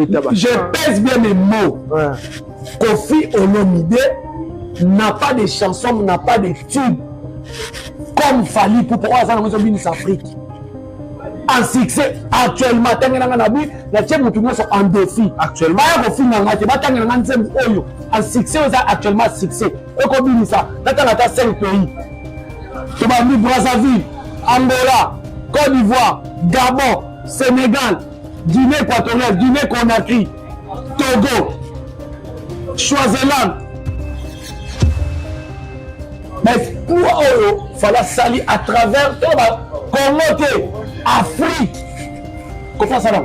Je pèse bien mes mots. Ouais. Kofi Olomide n'a pas de chanson, n'a pas de tube comme Fali pour pourquoi ça nous oblige Afrique. En succès actuellement tangi nanga na bi na tie mutu nyoso en défi. Actuellement ya kofi nanga te batangi nanga nzembo oyo en succès oza actuellement succès. Eko binisa tata na ta 5 pays. Tobandi Brazzaville, Angola, Côte d'Ivoire, Gabon, Sénégal, Guinée équatoriale, Guinée Conakry, Togo, Swaziland. Mais pour Oyo, il fallait salir à travers Congo, Afrique. Comment ça va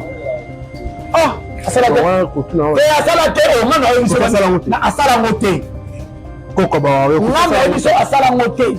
Ah, ça va Et à ça la terre, on a eu une asala yango te kokaba yo ngai na yebiso asala yango te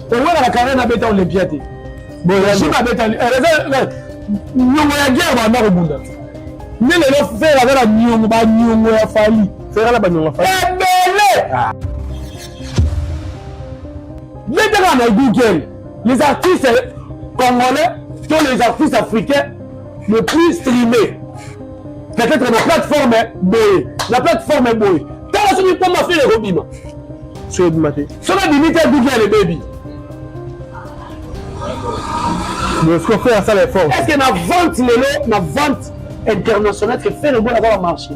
owela na carrière na beta olympia te boyajima abeta niongo ya guerre banda kobunda nde lelo fere aza na niongo baniongo ya fali fere na baniongo ya fali ebele betaka na google les artistes congolais to les artistes africains le plus streamé peut-être na plateforme boye na plateforme boye tala soki mpo mafele ekobima soki ebima te soki ebimi te duki ya lebebi bosco fere asala effort est ce que na vente lelo na vente internationale que fere ebona kaka marché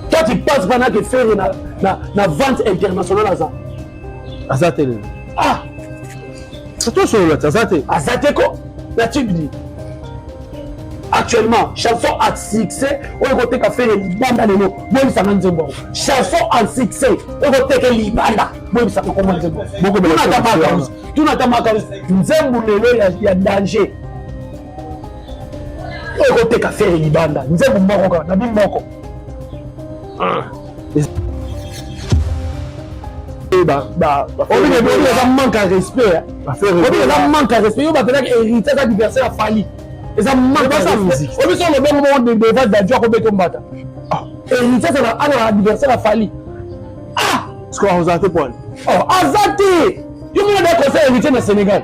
toi tu penses bana que fere na, na, na vente internationale aza aza te lelo ah tosolola te aza te aza te ko na tibidi actuellement chanson à succès oyo ekoteka fere libanda lelo boyebisanga nzembo yango chanson à succès oyo ekoteke libanda boyebisanga kombo nzembo tunata makambo tunata makambo nzembo lelo ya danger oyo koteka fere libanda nzembo moko kaka na bino moko ah. eza manque ya respect eza manque ya respect yo batelaka hérité aza diversaire ya fali eza manque ya musique obiso olobenge moko devant dadio akobeta mbata ah. hérité azala ana adversaire ya fali ah sikoyo azala te pwani oh, aza te yo mona da conseil hérité na sénégal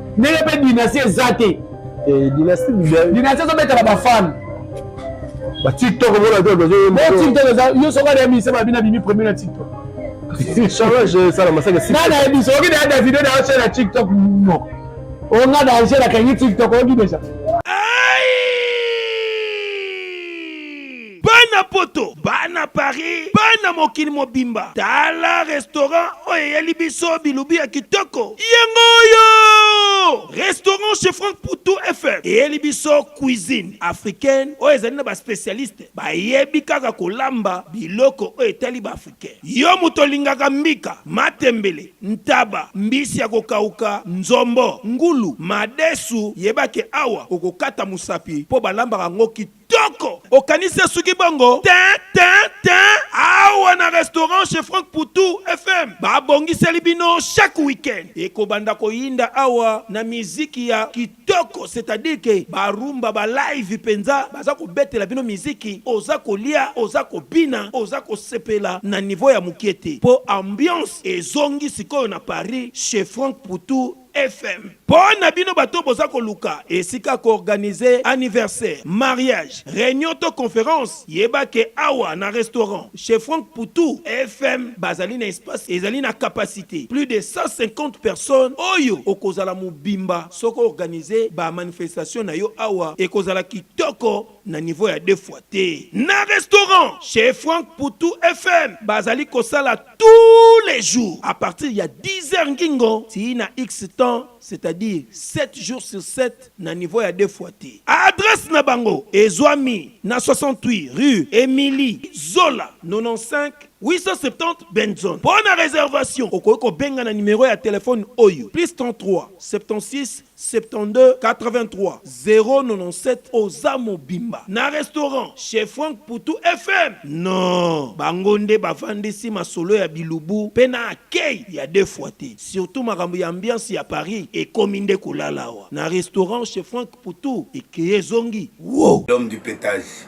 ndenge mpe dynastie eza te eh, dynastie ezobetaka bafane ba tiktok omona te bazo tiktok eza yo soki aleya ministre babi na bimi premier na tiktok charage esala masaka si nana yebi soki na yada video na yo sala tiktok moko onga na angela kangi tiktok oyoki deja Bana poto, bana Paris, bana mokili mobimba, tala restaurant oyo eyeli biso bilubi ya kitoko. Yango oyo! Restaurant chez Franck Poutou FM eyeli biso cuisine africaine oyo ezali na ba specialistes bayebi kaka kolamba biloko oyo etali ba africain. Yo moto olingaka mbika, matembele, ntaba, mbisi ya kokauka, nzombo, ngulu, madesu, yeba ke awa okokata mosapi mpo balambaka yango kitoko. Kitoko! Okanisi asuki bongo? Tin, tin, tin! Awa na restaurant chez Franck Poutou FM babongiseli bino chaque week-end ekobanda koyinda awa na miziki ya kitoko, c'est-à-dire que ba rumba ba live penza, baza kobetela bino miziki oza kolia, oza kobina, oza kosepela na niveau ya mukie te, po ambiance ezongi sikoyo na Paris chez Franck Poutou. FM. Pona bino bato boza koluka esika ko organiser anniversaire, mariage, reunion to conference, yeba ke awa na restaurant chez Franck Poutou FM bazali na espace ezali na capacite plus de 150 personnes oyo okozala mobimba soki o organiser ba manifestations na yo awa ekozala kitoko. na niveau ya deux fois te. Na restaurant chez Franck Poutou FM bazali kosala tous les jours à partir ya 10 heures ngingo tii na X temps c'est-à-dire 7 jours sur 7 na niveau ya deux fois te. Adresse na bango ezwami na 68 rue Emilie Zola 95 870 Benson. Mpo na reservation okoki kobenga na numero ya telefone oyo plus 33 76 72 83 097 oza mobimba na restaurant chez Franck Poutou FM non bango nde bavandisi masolo ya bilubu pe na accueil ya deux fois te surtout makambo ya ambiance ya Paris ekomi nde kolala awa na restaurant chez Franck Poutou ekeyi ezongi wooh. L'homme du petage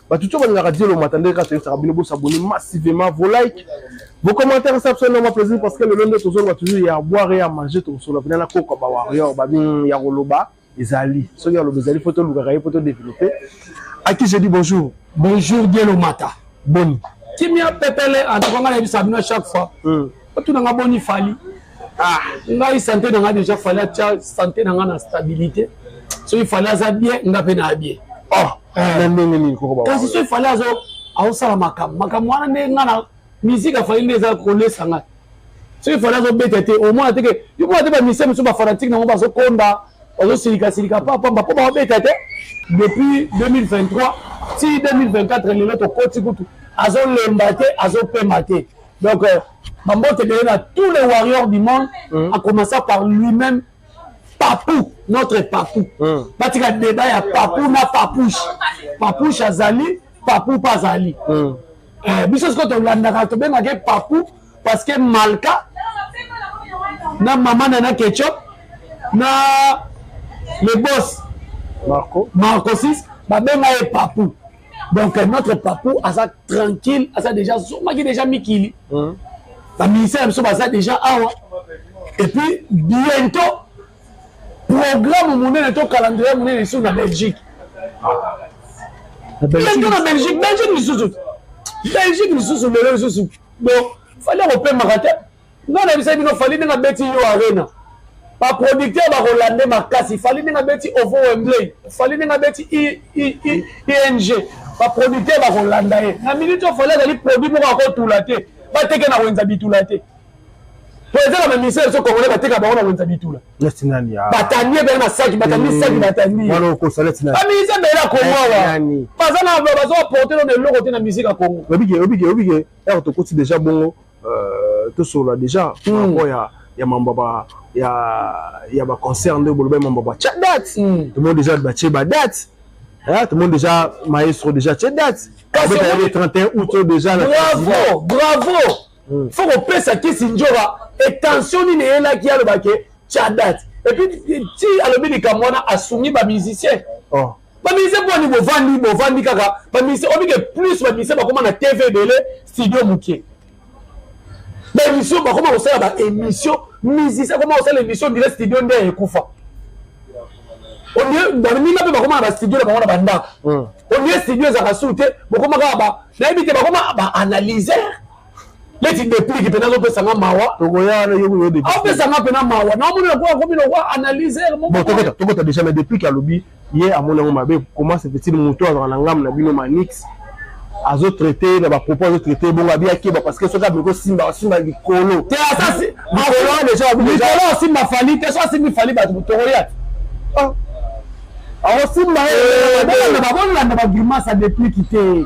bato tso balingaka dielo mata ndenge kaka toyebisaka bino bosabone massivement vos like vos commentaire esa biso noma plaisir parce que lelo nde tozoloba toujours ya boire ya manger tokosolola mpena na koko ba warrior babi hmm, ya koloba ezali soki ya loba ezali mpo tolukaka ye mpo todeveloppe aki je dis bonjour bonjour dielo mata boni kimia pepele antoka ngai nayebisa bino chaque fois hmm. otuna nga boni fali ah ngai sante na nga deja fali atya sante na nga na stabilité soki fali aza bien nga mpe na bien oh eh. na ndenge nini koko kasi soki fali azo aosala makambo makambo wana nde nga na miziki afali nde eza kolesa ngai soki fali azobeta te omona teke yomona te bamisie mosusu bafanatike nango bazokonda bazosilikalsilika papamba mpo babeta te depuis 2023 ti 2024 lelo tokoti kutu azolemba te azopema te Donc, euh, Mambote est là, tous les warriors du monde, mm. en commençant par lui-même, Papou, notre Papou. Mm. Parce qu'il y a débat, il y a Papou, na Papouche. Papouche Azali, Papou pas Azali. Mm. Euh, biso sikoyo tolandaka tobengaka papu parce que malka na mama na na ketchup na le boss marco marcosis babenga ye papu donc notre papou aza tranquille aza déjà azongaki déjà mikili mm. baministère ya biso baza déjà awa et puis bientôt programme monene to calendrier monene lisusu na belgique bientôt na belgique belgique lisusu belgique lisusu lelo lisusu donc fali akopemaka te Nga nayebisaki bino Fally ndenge abeti yo arena ba producteur bakolande makasi Fally ndenge abeti ovo Wembley Fally ndenge abeti ING ba producteur bakolanda ye na minute oyo Fally azali produit moko akotula te bateke na wenza bitula te po eza na bamisele biso congolais bateka bango na wenza bitula batandi ebele na saki batandi saki batandibamise ebele ya kongo awa baza na bazo baporte no na eloko te na musike ya kongo obike obike obike ere tokoti deja bongo euh, tosolola deja mm. rapport ya ya mambo ba ya ya ba concert nde boloba mambo ba cha date mm. tout le monde déjà ba che ba date hein tout le monde déjà maestro déjà che date avec le 31 août déjà la bravo bravo mm. faut qu'on pèse à qui sinjora et tension ni ne là qui a le baquet cha date et puis ti alobi likambo wana asungi ba musicien oh baministre mpo ani bovandi bovandi kaka baministre obike plus baministre bakoma na tv ebele studio moke baémission bakoma kosala baémission musicien akoma kosala émission ndire studio nde ekufa baninga mpe bakoma na bastudio na bango na bandako hmm. olie studio ezalaka su te bokoma kaka nayebi te bakoma baanalyser leti deplike mpe nazopesa nga mawa opesa nga mpe na mawa naomoni lokola komi lokola analyser mokotokota deja na deplike alobi ye amoni yango mabe comment se fait-il moto azalaka na ngambo na bino manix azo traite na bapropos azo traite bongo abi akeba parce que soki abimi kosimba asimba likolo te asasi likolo asimba fali te so asimbi fali bato tokolia akosimba ye bakolanda bagrimasa depliki te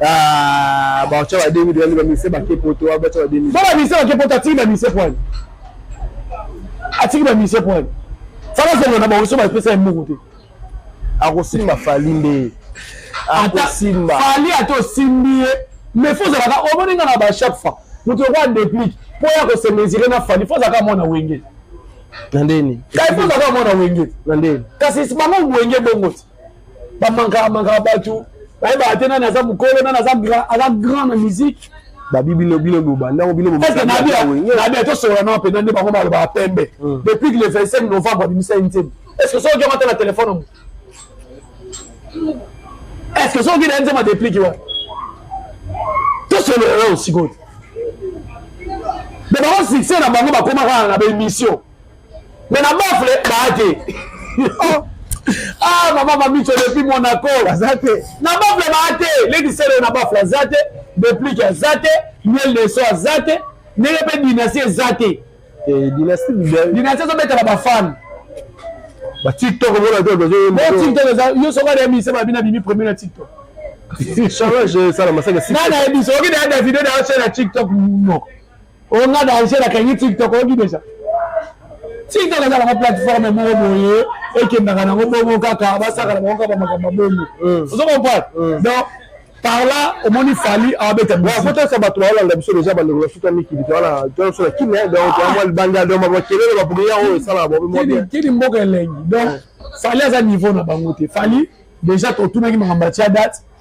Ah, ba cha ba demi de ba mise ba ke poto ba cha ba demi. Ba ba mise ba ke poto atiki ba mise point. Atiki ba mise point. Fala zongo na ba oso ba pesa mboko te. Akosimba fali nde. Akosimba. Fali ato simbi ye. Mais faut zalaka omoni nga na ba chaque fois. Mutu kwa déplique. Po ya ko se mesurer na fali faut zalaka mona wenge. Na ndeni. Kai faut zalaka mona wenge. Na ndeni. Kasi bango wenge bongo. bamankaka mankaka bato bayebaka te nani aza mokolo nani aza grand na musique babi bino bino bobandako bino bobandako tosolola na mpenza nde bango balobaka pembe hmm. depuis le 25 novembre abimisa ye nzembo est ce que soki okata na telefone omo est ce que soki na ye nzembo adeplike wana tosolola yo sikoyo me bango succès na bango bakomaka na baémission mais na bafle baa te oh. ah mama mamico depuis monaco aza te na bafle baa te lekisele na bafle aza te deplike aza te miel de so aza te ndenge mpe dynastie eza te eh, dynastie ezobetela bafane ba tiktok bona te bazo tiktok eza yo soko na emission ba bina bimi premier na tiktok charge sala masaka nana ebiso oki na davido na chaîne ya tiktok no onga danger na kangi tiktok oyoki deja tiktok ezalaka na plateforme moko boye ekendaka nango bongo kaka basakana bango kaka bamakambo bongo hmm. ozo comprendre hmm. donc par là omoni fali abeta bikotasa bato baolanda biso deja bandeko na suka mikili toala biso na kimia donc toamwa libanda donc bakelele bapriere oyo esalaka bobekini mboka elengi donc fali aza niveau na bango te fali deja totunaki makambo ya tia date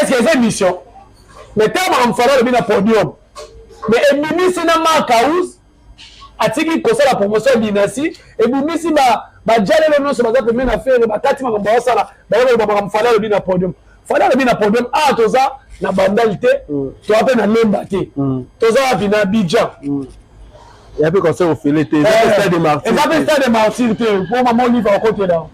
est ce que eza émission mais ntango makambo fala alobi na podium mais ebimisi na mark house atiki kosala promotion ya dinasi ebimisi bajalelo nyonso baza pembe na fere bakati makambo baosala baye koloba makambo fala alobi na podium fala alobi na podium awa ah, toza na bandali te mm. toza mpe na lemba te mm. toza wapi na abidjan mm. ya mpe conseil ofele te eza mpe stade de martyr te mpo mama olive akotela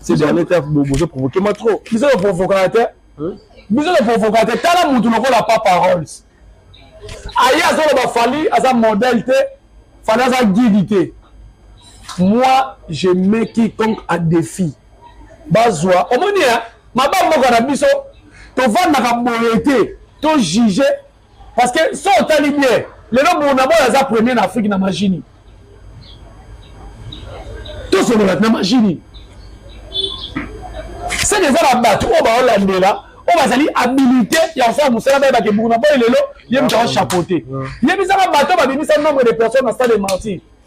C'est bien l'état vous vous provoquez moi trop. Vous êtes provocateur. Vous êtes provocateur. Tala mutu lokola pas paroles. Aïe azolo ba fali aza modèle te. Fali aza guide te. Moi je mets quiconque à défi. Bazwa. Omoni hein? Mabam moko na biso tovandaka boye te. To juger parce que so otali bien lelo bonaboy aza premier na afrique na magini tosolola na magini seke eza na bato oyo baolandela oyo bazali habilité ya kosala mosala baye bakebungu na boye lelo ye moto aochapeaute yebisaka bato babimisa nombre de personnes na stade de martyr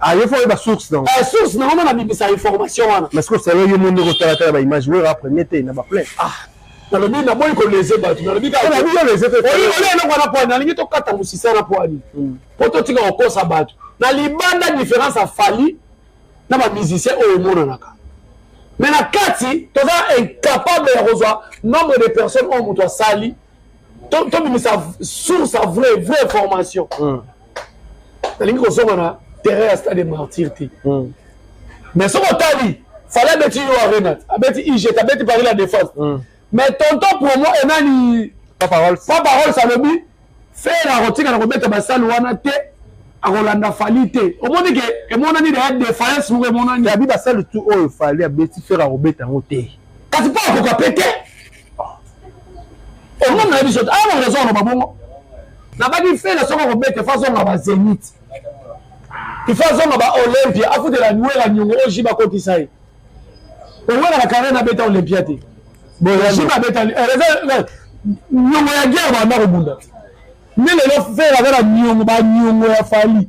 Ah, yo faut oyeba source nango eh, source nango nde nabimisa information wana mais sikoyo selo yo moni kotalatala baimage wera premier te na baplain ah, nalobi naboyi kolese bato nalobi eloko wana poani nalingi tokata mosisa na poani hmm. mpo totika kokosa bato na libanda différence ya fali na bamusicien oyo emonanaka mais na kati toza incapable ya kozwa nombre de personnes oyo moto asali tobimisa source ya vrai vrai formation hmm. nalingi kozonga na terrain ya stade martyr te hmm. mais soki otali fale abeti yo arena abeti iget abeti paris la défense hmm. mais tonton promo enani paparols alobi fere akotika na kobeta basale wana te akolanda fali te omoni ke emonani deya defiance moko emonani abi basale tu oyo fali abeti fere akobeta yango te kasi mpo akoka pe te omoni na biso aya na raison aloba bongo nabaki fela soko kobete fo azonga ba zenite ifo azonga ba olympia afutela nwela niongo oji bakotisa ye owela na carrière nabeta olympia te boji babeta eh, eh, niongo ya guerre banda kobunda nde lelo fela aza na niongo baniongo ya fali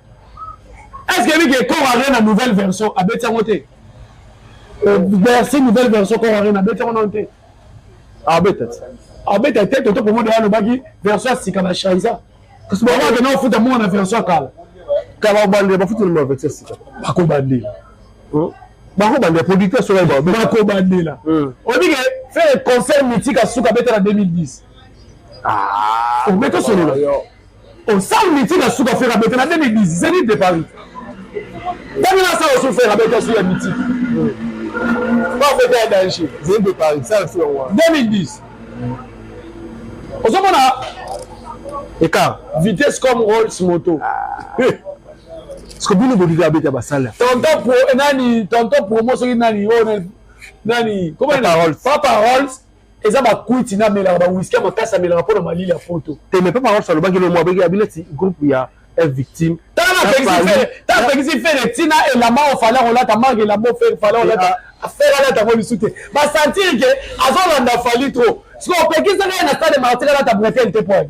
est ce que ebiki ekor arena nouvelle version abeti yango te euh, bercy nouvelle version kor arena abeti yango nano te abeta te abeta te toto promo deya alobaki version ya sika na shaisa kasi bango akenda kofuta mongo na version ya kala kala obandela bafuti na version ya sika bakobandela hmm? bakobandela producteur soki bakobandela hmm. obike fere concert mitika suka abeta na 2010 omeka solola Osal mitika suka fera bete na 2010 zenith de Paris. Ndenge na sa osu fera bete su ya mitika. Ba fete ya danger. Zenith de Paris sa su wa. 2010. Ozomona écart vitesse comme Rolls moto. Ah. Parce que bino bolinga bete ba sala. Tonton pro nani tonton promo soki nani oh nani comment Papa Rolls. Papa Rolls. eza bakwiti na melaka bawiski ya makasi amelaka mpo na malili ya poto te mais papa wapsa alobaki lomo abeki abi neti groupe ya victime tapekisi fere ntina elamba oyo fale akolata marke elamba oyo fere fale akolata fere alata yango lisu te basantire ke azolanda fali trop siko opekisaka ye na stade martire alata bretele te poani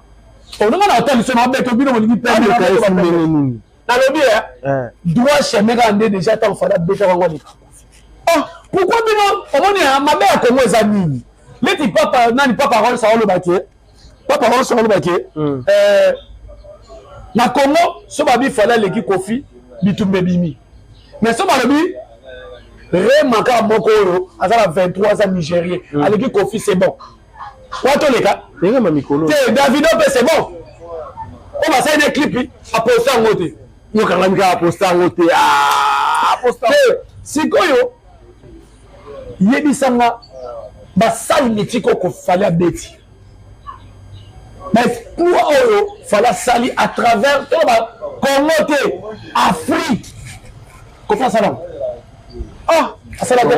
olinga na kotalisa na bete bino bolingi pembekalesindenge nini nalobi e eh? eh. droit chemin kaka nde déjà ntango fada beta bango aleka oh, pourkui bino omoni eh, mabe ya kongo eza nini leti papa nani papa rols aoloba ke papa rols aoloba ke hmm. na kongo so babi fada aleki kofi bitumba ebimi mais so balobi rema kaka moko oyo aza na 23 aza nigérien hmm. aleki kofi c'est bon wa toleka te davido mpe c'est bon oyo basali na clip aposta yango te yokanga mika aposta yango te ah, te sikoyo yebisanga basali mitiki oko fali abeti baesploit oyo fali asali à travers toloba congo te afrique kofi asala ngo ah asala te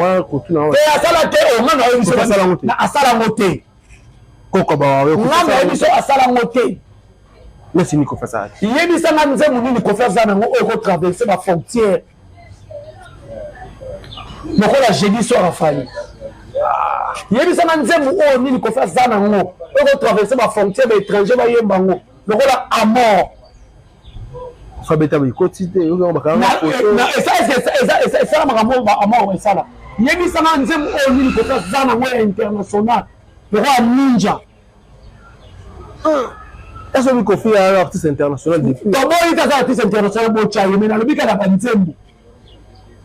te asala te o nga nayebi so asala ngo te asala ngo te koko ba yo nga nayebi so asala ngo te nesi ni kofi asala yebisa nga nzembo nini kofi asala nango oyo ekotraverse ba frontière lokola jeudi soir afali yebisa nga nzembo oyo nini kofi asala nango oyo ekotraverse ba frontière ba étranger bayemba ngo lokola amor fabeta boyikoti te esala makambo amoko esala yebisanga nzembo oyo nini kosa za nango ya international lokola ninja ezo mikofi ya artiste international depuis toboyi kaka artiste international bocha ye me nalobi kaka banzembo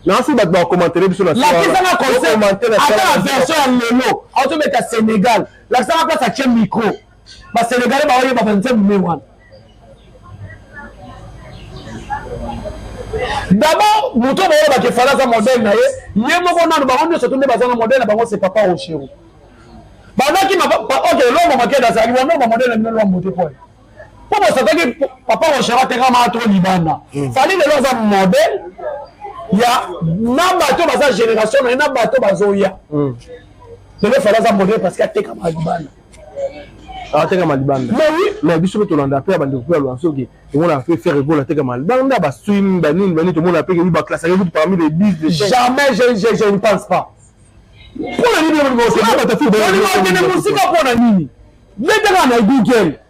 nasi bato bakomantere biso lakisanga concert ata na version ya lelo azobeta sénégal lakisanga place atie micro basenegale baoyeba banzembo me wana dabord moto baoyo bakefala aza modele na ye ye moko nano bango nyonso to nde bazanga modele na bango se papa rochero bazaki ok lombo makeda azali wana lombo modele na bino lombo te poye mpo bosakaki papa rochero atekamaka to libanda hmm. fali lelo aza modele ya na bato baza génération na ye na bato bazoya hmm. lelo fali aza modele parce que atekamaka libanda atekama libanda mais biso mpe tolanda mpe ya bandeko mpe ya lwansoki tomonaka mpe faire egol atekama libanda baswim banini banini tomonaka mpe kebi baclassaka kutu parmi les 10 jamais je ne pense pas mpo na nini okende mosika mpo na nini bendaka na google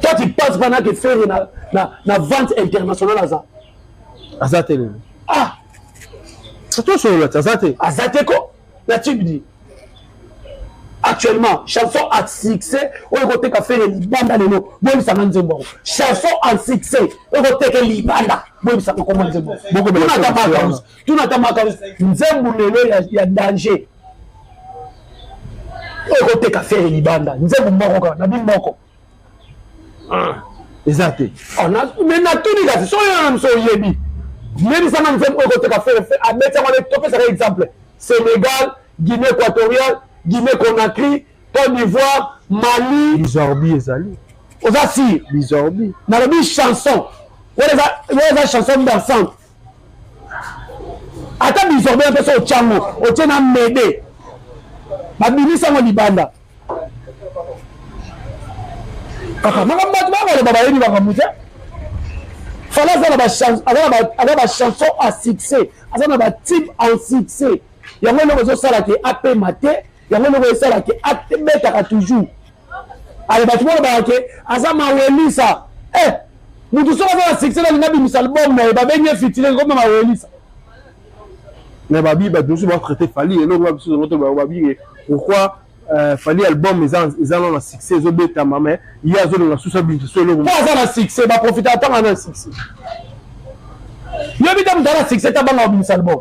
toi tu penses bana ke ferre na, na, na vente internationale aza aza te lelo ah tosolola te aza te aza te ko na tube di actuellement chanson a succès oyo ekoteka fere libanda lelo boyebisanga nzembo yango chanson a succès oyo ekoteke libanda boyebisanga koma nzembo tunata makambo nzembo lelo ya danger okoteka fere libanda nzembo moko kaka na bimoko ah. eza te oh, me natuni kasi soki yo na miso oyebi yebisanga nzembo oyo koteka fere abeti yango topesaka exemple sénégal guinée équatoriale guinée conakry côte d'ivoire mali bizorbi ezali oza sire bizorbi nalobi chanson wana eza chanson dansante ata bisorbe na mposa otyango otye na mede babimisi yango libanda kaka makambo bato bakoloba bayebi makambo te fala aza na bachanson a succès aza na batube en succès yango eloko ezosala ke apema te yango eloko esalaka abetaka toujours ale bato bolobaka ke aza mawelisa eh, motu soki aza na succès nalingi abimisa album na ye babengi ye fitile koma mawelisa mais babi bato mosusu batraite fali eloko ba biso zoto babinge pourquoi euh, fali album eza nano na succès ezobetama mais ye azolonga susu abimisa so eloko po aza na succès baprofita atanga na succès yobi ta moto ana succès tabanga babimisa album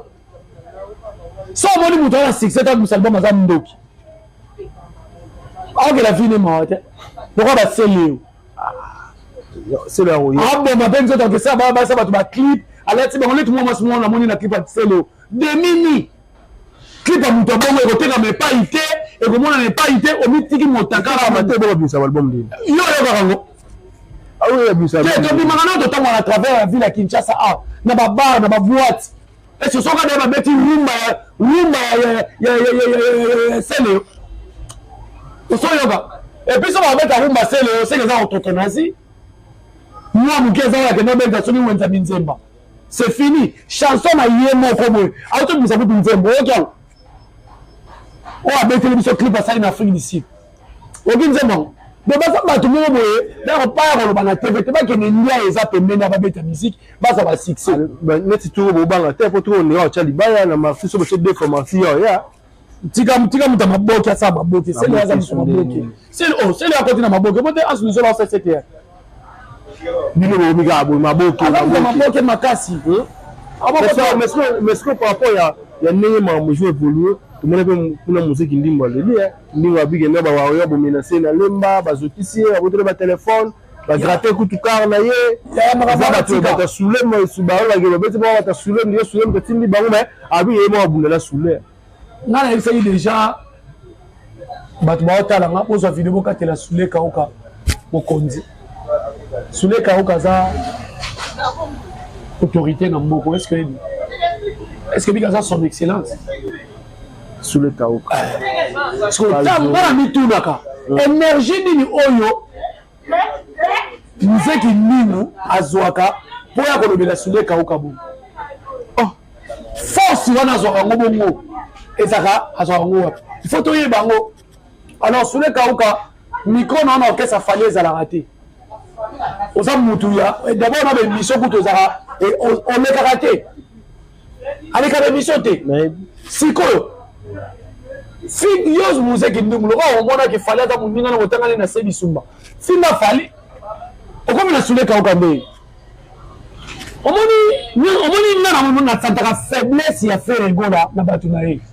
so omoni moto wana succès ta bimisa album aza ndoki aokela vine mawa te lokola baseleo aboma mpe nzoto akesa basa bato baclip alati bango neti mwa mwasi mwana namoni na clip ya seleo demini clip ya moto abongo ekotekama epai te ekomonana epai te omitiki motakala te bobabimisa balbum ndini yo oyokaka yango tobimaka nao totangwa na travers ya ville ya kinshasa a na babar na baboite Esi soka nde babeti rumba ya rumba ya seleo osoyoka epuis soki babeta rumba seleo seke eza kototonasi mwa moke eza oyo akenda obeta soki wenza minzemba c'est fini chanson na ye moko boye aotobimisa kutu nzembo oyoki yango oyo abeteli biso clip asali na afrique du sud oki nzembo yango donc baza bato moko boye dako pa ya koloba na tv te bakende ndia eza pembeni ya babeta miziki baza basuccès neti toko bobanga te po toko ondeka otya libaya na marsi so botye defo marsi yao ya tika tika moto ya maboke asala maboke sele aza moto maboke sele akoti na maboke bote asuluzola osesete bino bokomi kaka boye maboke makasi hmm? mesiko par rapport ya ya ndenge makambo ezo évolue tomoni mpe kuna moziki ndimbo aleli eh. ndimbo abike na bawario bomenase na lemba bazokisi ye aboteli batelefone bagrate kutu kar na ye eza bato bata sule baolakela babeti bao bata sule ndiye sule motatindi bango me abi ye moko abundela sule nga nayebisaki deja bato baotala nga bozwa video bokatela sule kauka mokonzi sule kauka aza autorité na mboko est ce que est ce que bika aza son excellence sule kauka eh. sikoyo ntango nga na mitunaka hmm. énergie nini oyo mzee kindingu azwaka mpo ya kolobela sule kauka bongo oh, force wana azwaka yango bongo ezaka azwaka yango wapi ifo toyeba yango alors sule kauka mikro na wana orkestre afali ezalaka te oza mutu ya eh, dabord na bemission kutu ezalaka eh, olekaka te aleka na emission te sikoyo fille yose muze kindungu lokola omonaki fali aza moninga na kotangani na se bisumba finga fali okomi na sule kauka nde omoni omoni nga na santaka faiblesse ya ferre gola na bato na ye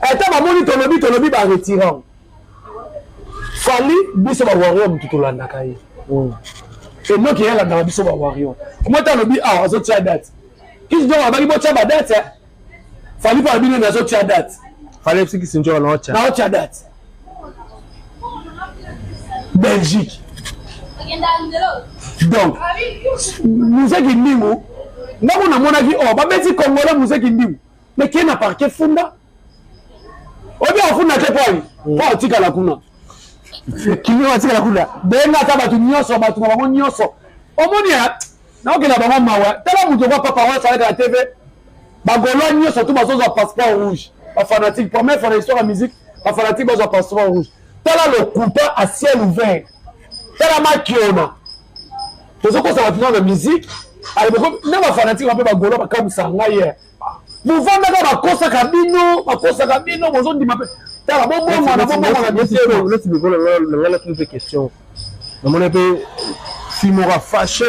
ata bamoni tolobi tolobi ba retirant fali biso ba warrior motu tolandaka ye mm. enoki yalandaka biso ba warrior moi ta alobi awa ah, azotia date kisi donc abaki botia ba date eh? fali mpo alobi nini azotia date fali ebisi kisi njoka naotia naotia date belgique donc museki ndingu ndako namonaki o oh, babeti congolais museki ndingu me ke na parke funda oyebi afunda te poi mm. po atikala kuna kimio atikala kuna benga ata bato nyonso bato na bango nyonso omoni naokela bango mawa tala moto kwa papa oyo asalaka na tv bagolois nyonso tu bazozwa passeport rouge bafanatique première fois na histoire ya musique bafanatique bazwa passeport rouge tala lokuta a ciel ouvert tala makiona tozokosa bato nao na musique na bafanatique bape bagolois bakamwisa ngai bovandaka bakosaka bino bakosaka bino bozondima mpe tala bobongwana bobongwana bisenangalaki mpe question namoni mpe simora fache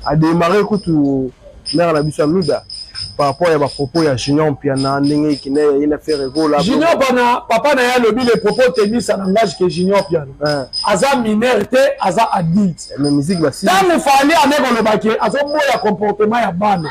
ademare kutu mare na biso ya mida par rapport ya bapropos ya junior mpiana ndenge ekende ye na fere gola junior bana papa na ye alobi le propos tenus en langage ke junior mpiana eh. aza mineur te aza adulte eh, ntango fali ane kolobaki azoboya comportement ya bana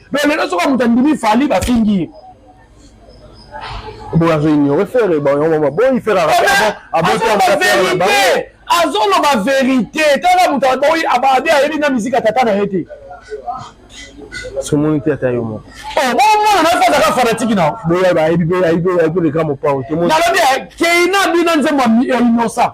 mais lelo soki moto andimi fali bafingi ye boye azo ignore fere baboyi fere azoloba verité tala moto aboyi ababe ayebi na miziki ya tata na ye te somoni te ata yo moko oh, bomona nayo azaka fanatiki nao boye bayebi mpe ayebi mpe leka mopao nalobi keina bino nzembo ya inosa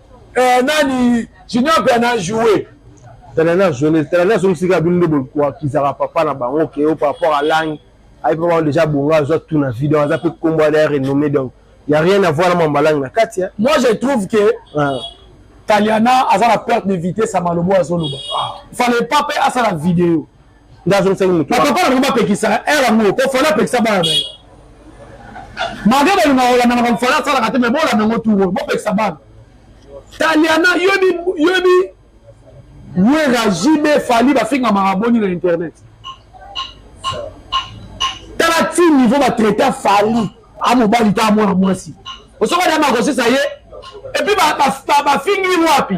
eh, nani junior mpe ana joue talani azongi talani azongi sika bino nde bokisaka papa na bango ke o par rapport à langue ayebi mpe bango déjà bongo azwa tout na vie donc aza mpe nkombo ada renommé donc y a rien à voir na mamba langue na kati moi je trouve que ah. taliana aza na perte de vitesse ya malobo azoloba ah. fallait pas mpe asala video nde azongisaki moto papa na bango bapekisaka ere yango po fali apekisa bana na ye malgre balinga kolanda makambo fali asalaka te mai bolanda yango turo bopekisa bana taliana yobi yobi wera jb fali bafingamaka boni na internet tala ti niveau batraita fali a mobali ta mwana mwasi osoka dama akosisa ye epuis bafingi wapi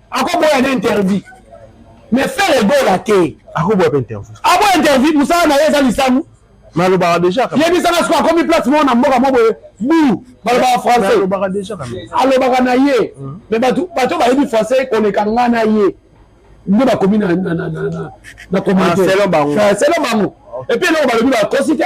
akoboya na interview mais faire egola te akoboya mpe interview aboya interview mosala na ye eza lisamu nalobaka deja yebisaka siko akomi place moko na mboka moko boye bu balobaka français alobaka deja alobaka na ye mhm. mais bato bato bayebi français koleka nga na ye nde bakomi na commentaire selon bango epuis eloko balobi bakosi te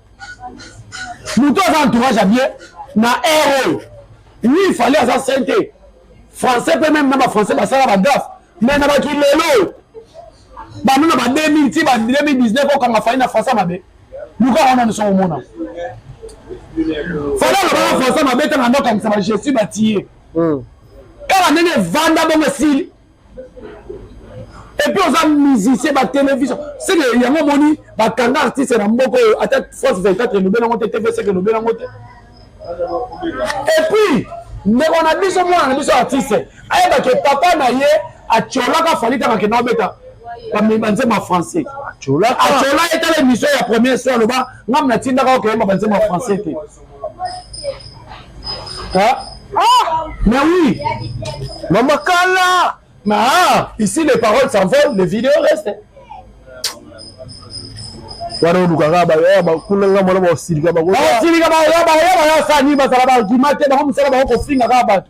moto aza entourage ya bien na heure oyo oui fali aza sain te français mpe meme na bafrançais basala bagafe mais na bato lelo oyo bano na ba 2000 ti ba 2019 okanga fali na français mabe luka wana biso komona fali alobaka français mabe ntango ando okangisa bagestu batiye kaka ndenge evanda bongo esili epuis oza musicien batelevision seke yango omoni bakanga artiste na mboka oyo ata france 24 elobeli yango te tv seke elobeli yango te epuis ndeko na biso mwana na biso artiste ayeba ke papa na ye atiolaka fali kaka kenda obeta banzema français atiola etala émission ya première soir aloba ngam natindaka okeyemba banzema français te Hein? Ah, mais oui. Maman Kala. Mais ah, ici les paroles s'envolent, les vidéos restent. wana olukaka kuna nga mwana baosilika baosilika baoya baoya baosani bazala baargument te bango mosala bango kofinga kaka bato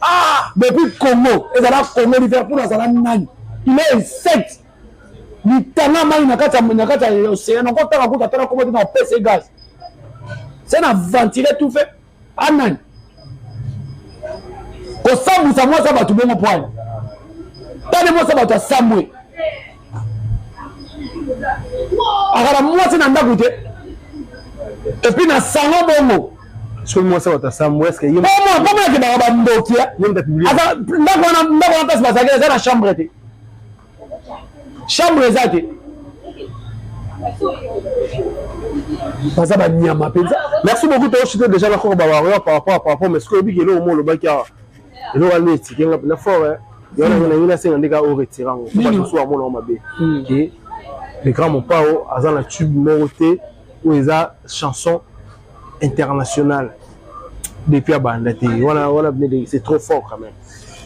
ah depuis congo ezala congo liverpool azala nani il est insecte litanga mai na kati na kati ya océan nako tanga kuta tala koma te na pese gaz se na ventile tout fait anani kosambwisa mwasi ya bato bongo pwani tani mwasi ya bato asambwe akala mwasi na ndako te epuis na salon bongo soki mwasi bato asambo eske ye koma akendaka bandoki ndako wana ndako wana place bazalaki eza na chambre te chambre eza te baza banyama mpenza merci beaucoup toshite déjà nakoko bawario par rapport par rapport mais soki oyebiki eloko mo olobaki awa eloko alobi etike nga na fort yango eh. nangi nasenga ndeka o retira yango po bato mosusu bamonango mabe hmm. ke le grand mopao aza na tube moko te oyo eza chanson internationale depuis abanda te wana wana bine c'est trop fort quand même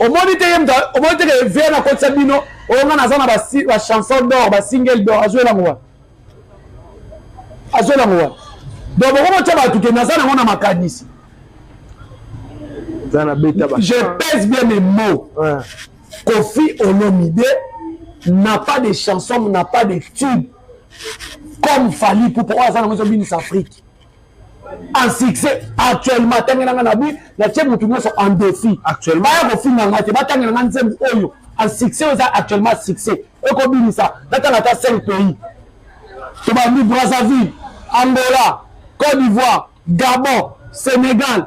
omoni te ye moto omoni te ke vie nakotisa bino oyo nga naza na bachanson d'or basingle d'or azwela ngo wana azo nango wana donc boko botya bato ke naza nango na makanisi je pèse bien mes mots ouais. kofi olomide n'a pas de chanson n'a pas de tube comme fali pupa oyo aza nango ezobinisa afrique en succès actuellement atangela nga na bi natie motu nyonso en défi baya kofinga nga te batangela nga nzembo oyo en succès oyo eza actuellement succès ekobimisa natanga ata 5 pays tobandi brazzaville angola côte d'ivoire gabon sénégal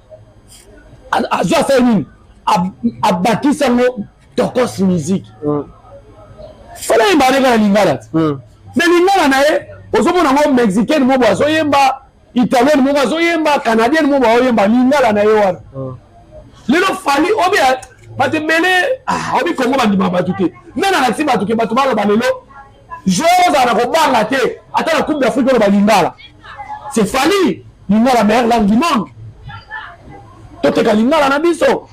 azo asala nini abakisi yango tokos musique hmm. fala yemba aleka na lingala ti hmm. na lingala na ye ozomona yango mexicaine mobo azoyemba italienne moko azoyemba canadienne mobo aoyemba lingala na ye wana hmm. lelo fali obi bato ebele ah, obi kongo bandima bato te nde nalakisi bato ke bato baloba lelo Joueur ozala na kobanga te ata na coupe d'Afrique oloba lingala. C'est Fally lingala meilleure langue du monde. Toteka lingala na biso.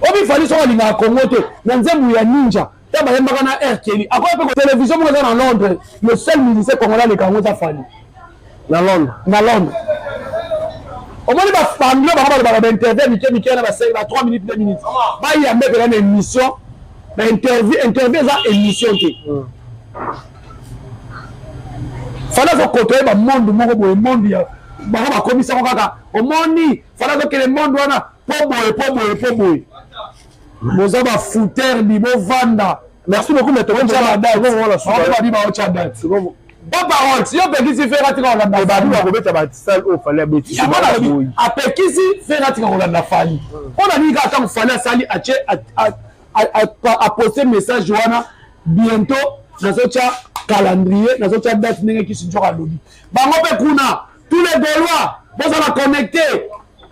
Obi Fally soki alingaka Congo te na nzembo ya ninja ta bayembaka na air keli akoya mpe télévision moko eza na londres le seul musicien congolais aleka yango eza fani na londres na londres omoni bafanglo bango balobaka bainterview ya mike mike na basali ba 3 minutes 2 minutes bayambe mpela na émission bainterview interview eza émission te hmm. fala azokotoye bamonde moko boye monde ya bango bakomisango kaka omoni fala azokele monde wana po boye po boye po boye boza ba fouter bi bovanda merci beaucoup mais tokotia badati baotia date ba parole si opekisi fere atika kolanda ebadi bakobeta basale oyo fali abetiyango apekisi fere atika kolanda fali mpo na nini kaka ntango fali asali atie aposte message wana bientôt nazotya calendrier nazotya date ndenge kisinjora alobi bango mpe kuna tous les gaulois bozala connecte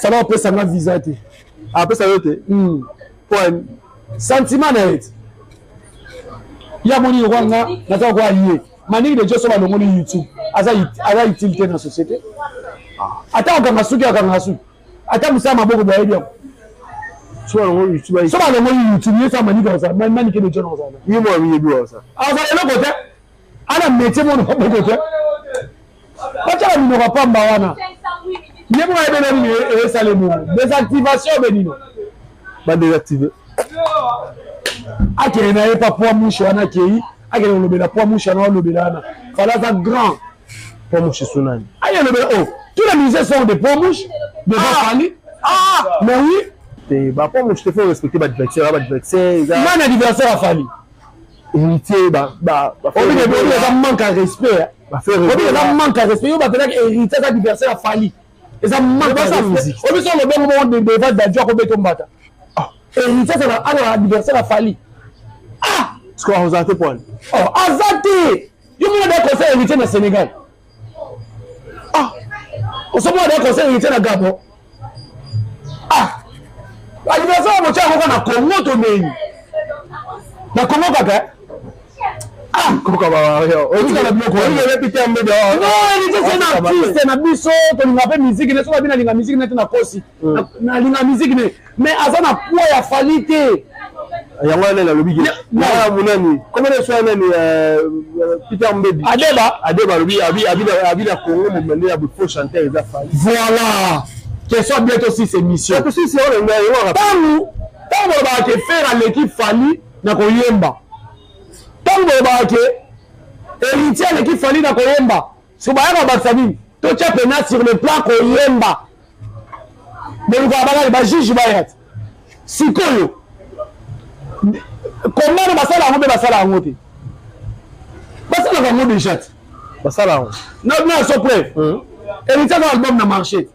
ça va opesa nga visa te apesa ah, yo te hmm. point sentiment na ye ya moni lokola nga naza kokola ye maniki de joso balongoli youtube aza utile te na société ah. ata okanga suki akanga suki ata mosala maboko boyebi yango so balongoli youtube ye sa maniki akozala maniki de joso akozala azala eloko te ana metie mono maboko te batala minoko pamba wana ye moko ayebela nini esala ebongo desactivation be nino badesactive akende na ye pa poa mushe wana akei akende kolobela poa mushe wana olobela wana fala aza grand poa mushe sunani aye olobela o oh, tous les musiciens sont des poa mushe devant ah! fali ah! mais oui te ba poa mushe te faut respecter ba diversaire ba diversaire eza nani adversaire afali héritier ba ba ba obi ne boni eza manque à respect ba faire obi eza manque à respect yo ba pelaka héritier eza adversaire ya Fally eza manque à respect obi so le bongo bongo de devant Dadju ko beto mbata ah. héritier c'est la ana adversaire ya Fally ah score ozate point oh azate yo mona da conseil héritier na Sénégal ah osomona nde conseil héritier na gabon ah anniversaire ya motya yango na congo tomei na congo kaka eh? ah! artiste na biso tolinga mpe miziki ne soki abinalinga miziki nete na kosi hmm. nalinga miziki ne mais aza na poids ya fali te yango wana nalobi ke na munani koma na soya nani euh, euh, peter mbebi adeba adeba alobi abi na congo momende ya faux chanteur eza fali voilà question bientôt six émission ntango ntango olobaka ke fere aleki fali na koyemba ntango olobaka ke héritier aleki fali na koyemba so baya kobakisa nini totya pena sur le plan koyemba bolukaka bakali bajuge baya te sikoyo kombano basala yango mpe basala yango te basalaka yango deja te basala yango na so preuve hmm. elityaka album na marché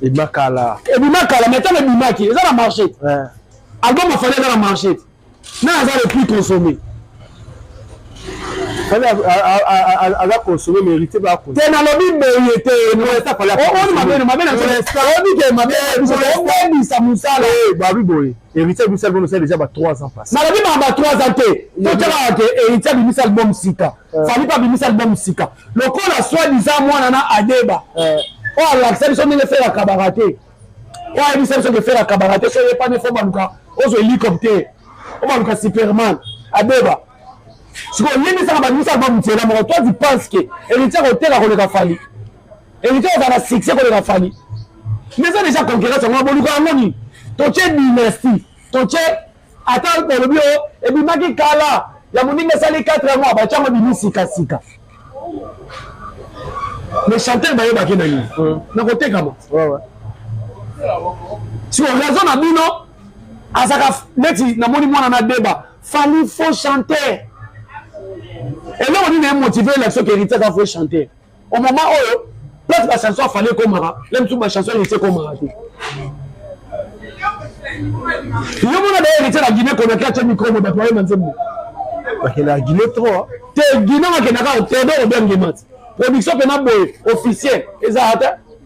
ebima kala ebima kala mai ntango ebimaki eza na marché album afali eza na marché na aza le plus consommé aza consommé mérité ba ko te nalobi boye te oni mabeno mabenoobike mabebisa mosala babi boye héritier abimisa album osala déjà ba 3 ans passé nalobi baa ba 3 ans te totyaka ke héritier abimisa album sika fali mpe abimisa album sika lokola soi disant mwana na adeba oyo alakisa biso ndenge fela kabaka te oyo ayebisa biso ke fera kabaka te soki epani fo baluka ozwa hélicoptère obaluka superman abeba sikoyo oyebisaka bato miso alba motela moko toi tu pense ke héritier akoteka koleka fali héritier ozala na succès koleka fali mais eza déjà concurrence yango boluka yango nini totie dynastie totie Ata balobi oyo ebimaki kala ya moninga esali 4 mois batyango ebimi sikasika le chanteur bayebaki na nini hmm. na kotekama sur raison na bino azaka neti namoni mwana na deba fali faux chanteur eloko nini emotive elakisi oke eritiaka faux chanteur au moment oyo place ba chanson afali ekomaka na misu ba chanson elisi ekomaka te yo mona daye elitya na guine konaki atye mikro mo bato bayema nzembo bakenda guine trop te guine bakendaka tedo obiangemati production mpena boye officiel eza ata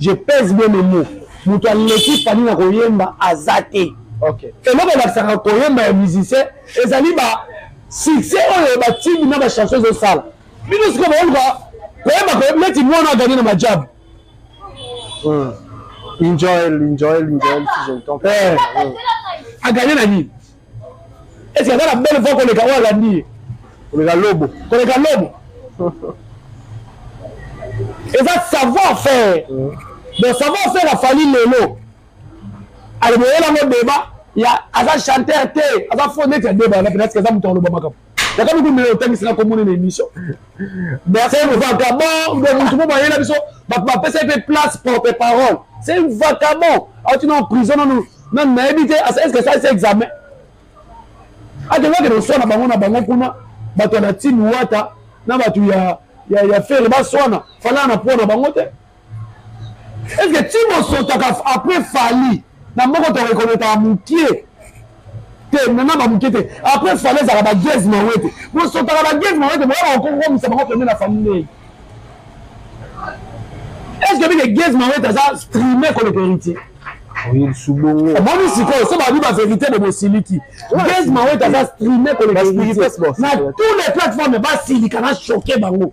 Je pèse bien mes mots. Moto aleki Fally na koyemba aza te. Okay. Eloko elakisaka koyemba ya musicien ezali ba succès oyo batindi na ba chansons ezosala. Bino sikoyo baoluka koyemba koyemba neti mwana agani na majabu. Hmm. Enjoy, enjoy, enjoy, enjoy. Eh. Hmm. Agani na nini? Est-ce que aza na belle voix koleka oyo alandi ye? Koleka lobo. Koleka lobo. eza savoir faire donc savoir faire afali lelo aloboyela ngo deba ya aza chanteur te aza fo neti ya deba na penasike aza moto akoloba makambo nakomi komela otangisi na komona na émission merci vagabond de motu mpo bayela biso bato bapesaki mpe place porte parole c'est un vagabond auti na prison nanu nanu nayebi te est ce que asalisi examen akendaki koswana bango na bango kuna bato ya na tini wata na bato ya ya ya fere baswana falaa na mpo na bango te Est-ce que ti bosotaka après Fally na moko to reconnaître mukie te mema ba mukie te après Fally ezaka ba Jazz Mawete bosotaka ba Jazz Mawete boyaka kokomisa bango pembeni na famille est-ce que bike Jazz Mawete aza streamer koleka héritier omoni sikoyo so babi baverité bo bosiliki base mawete aza streame koleka na tous les plateforme basilika na choke bango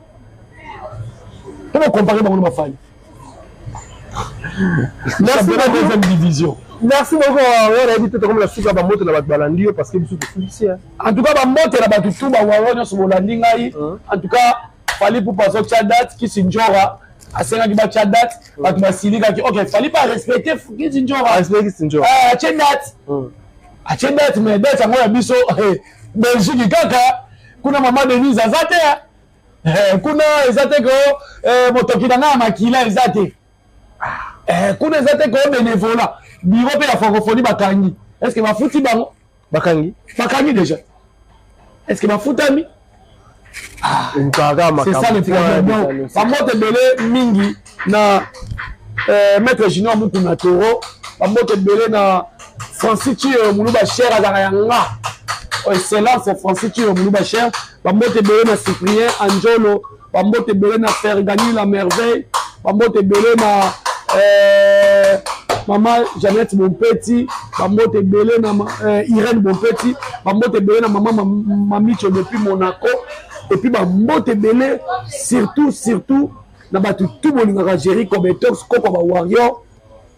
Comment comparer Bango Mafali Merci beaucoup. deuxième division. Merci beaucoup. On a dit tout comme la soupe à Bamote la Balandi parce que bisous tout ici. En tout cas, Bamote la Batou tout ba wawa nyo sobo landi ngai. En tout cas, fallait pour passer tcha date qui sinjora. asenga ki batya date bato basilikaki ok fali pa respecte kisinjora atye date atye date mais date yango ya biso belgique kaka kuna mama denise aza te eh, kuna eza te ko eh, motoki na ngai ya makila eza te eh, kuna eza te ko benevola biro mpe ya francophonie bakangi est ce que bafuti bango bakangi bakangi déjà est ce que bafutami ah, c'est ça le problème donc bamoto ebele mingi na euh, maître junior mukuna toro bambote ebele na francis ciyo muluba cher azalaka ya nga oh, excellence francis ciyo muluba cher bambote ebele na cyprien anjolo bambote ebele na fergani la merveille bambote ebele na euh, mama janete bompeti bambote ebele na euh, irene bompeti bambote ebele na mama mamicho depuis monaco epuis bambote ebele surtout surtout na bato tu bolingaka jerico betox koko ba warrior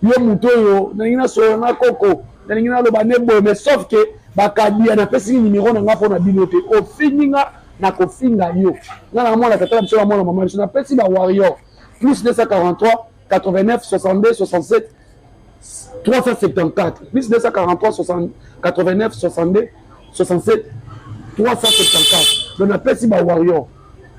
yo moto oyo nalingi nasolola na koko nalingi naloba ne boye mais sauf ke bakadia napesi nimero na nga mpo na bino te ofingi nga nakofinga yo nga na mwana tata na biso na mwana mama biso napesi ba warrior plus 243 89 62 67 374 plus 243 60 89 62 67 374 donc napesi ba warrior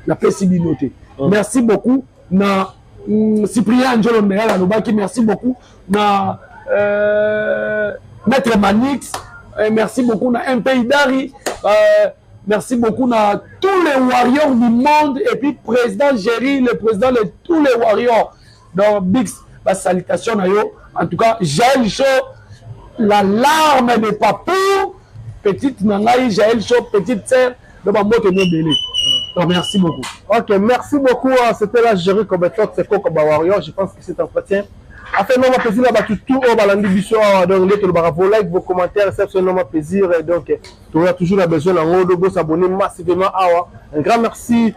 napesi bino te oh. merci beaucoup na mm, cyprien njolo meyala alobaki merci beaucoup na euh, maître manix euh, merci beaucoup na mpi dari euh, merci beaucoup na tous les warriors du monde et puis président géri le président de tous les warriors Donc Bix ba salutation na yo en tout cas Jael Show la larme de papou petite na ngai Jael Show petite sœur na ba mbote mo belé. Donc merci beaucoup. OK, merci beaucoup. Hein. C'était la Jerry Cobetot, c'est Coco Warrior. Je pense que c'est un entretien afin noma plaisir na bato tout oyo balandi biso awa donc nde tolobaka vos like vos commentaires esa biso noma plaisir donc toya toujours na besoin na yango do bosabone massivement awa un grand merci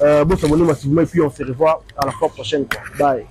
Euh, bon s'abonner massivement et puis on se revoit à la fois prochaine. Quoi. Bye.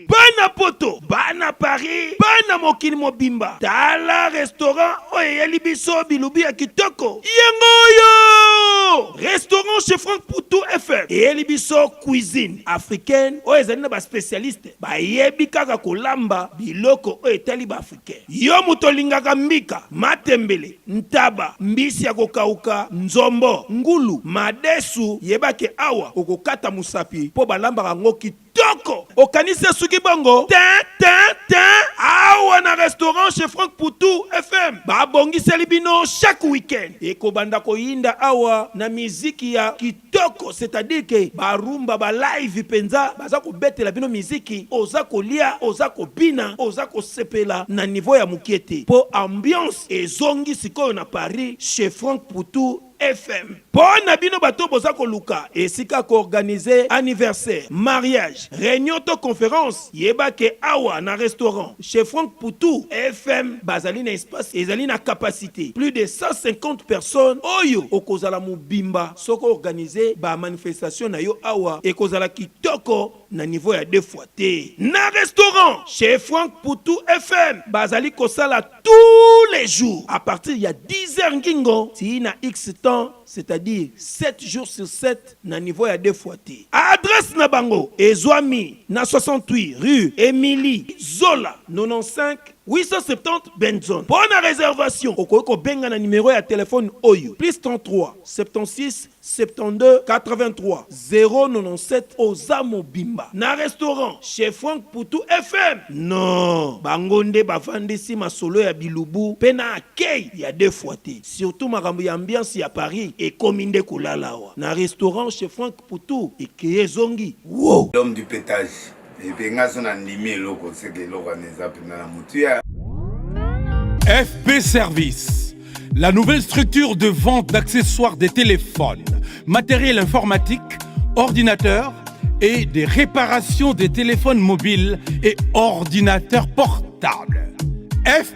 bana poto bana paris bana mokili mobimba tala restaurant oyo eyeli biso bilubi ya kitoko yango oyo restaurant chez frank putu fm eyeli biso cuisine africaine oyo ezali na baspecialiste bayebi kaka kolamba biloko oyo etali baafrika Yo moto olingaka mbika, matembele, ntaba, mbisi ya kokauka, nzombo, ngulu, madesu, yeba ke awa okokata mosapi po balambaka yango kitoko. Okanisi esuki bongo? Tin! Tin! Tin! Awa na restaurant chez Franck Poutou FM babongiseli bino chaque week-end ekobanda koyinda awa na miziki ya kitoko. Kitoko c'est à dire que ba rumba ba live penza baza kobetela bino miziki oza kolia oza kobina oza kosepela na niveau ya mukie te po ambiance ezongi sikoyo na Paris chez Franck Poutou FM po na bino bato oyo boza koluka esika ya ko organiser anniversaire, mariage, reunion to conference. Yeba que awa na restaurant chez Franck Poutou FM bazali na espace ezali na capacite plus de 150 personnes oyo okozala mobimba soki o organiser ba manifestations na yo awa ekozala kitoko na niveau ya deux fois te. Na restaurant chez Franck Poutou FM bazali kosala tous les jours à partir ya 10 heures ngingo tii na X temps c'est-à-dire sept jours sur sept. na niveau ya deux fois te. Adresse na bango ezuami na 68 rue Emilie Zola 95 870 Benson. Mpo na reservation, okoki kobenga na numero ya telefone oyo, +33 76 72 83 097. Oza mobimba na restaurant chez Franck Poutou FM. Non, bango nde bafandisi masolo ya bilubu mpe na accueil ya deux fois te. Surtout makambo ya ambiance ya Paris ekomi nde kolala awa na restaurant chez Franck Poutou ekei ezongi woow. L'homme du petage et puis nga so na ndimi eloko seke eloko wana eza mpenza na motuya. FP Service La nouvelle structure de vente d'accessoires des téléphones, matériel informatique, ordinateurs et des réparations des téléphones mobiles et ordinateurs portables. FP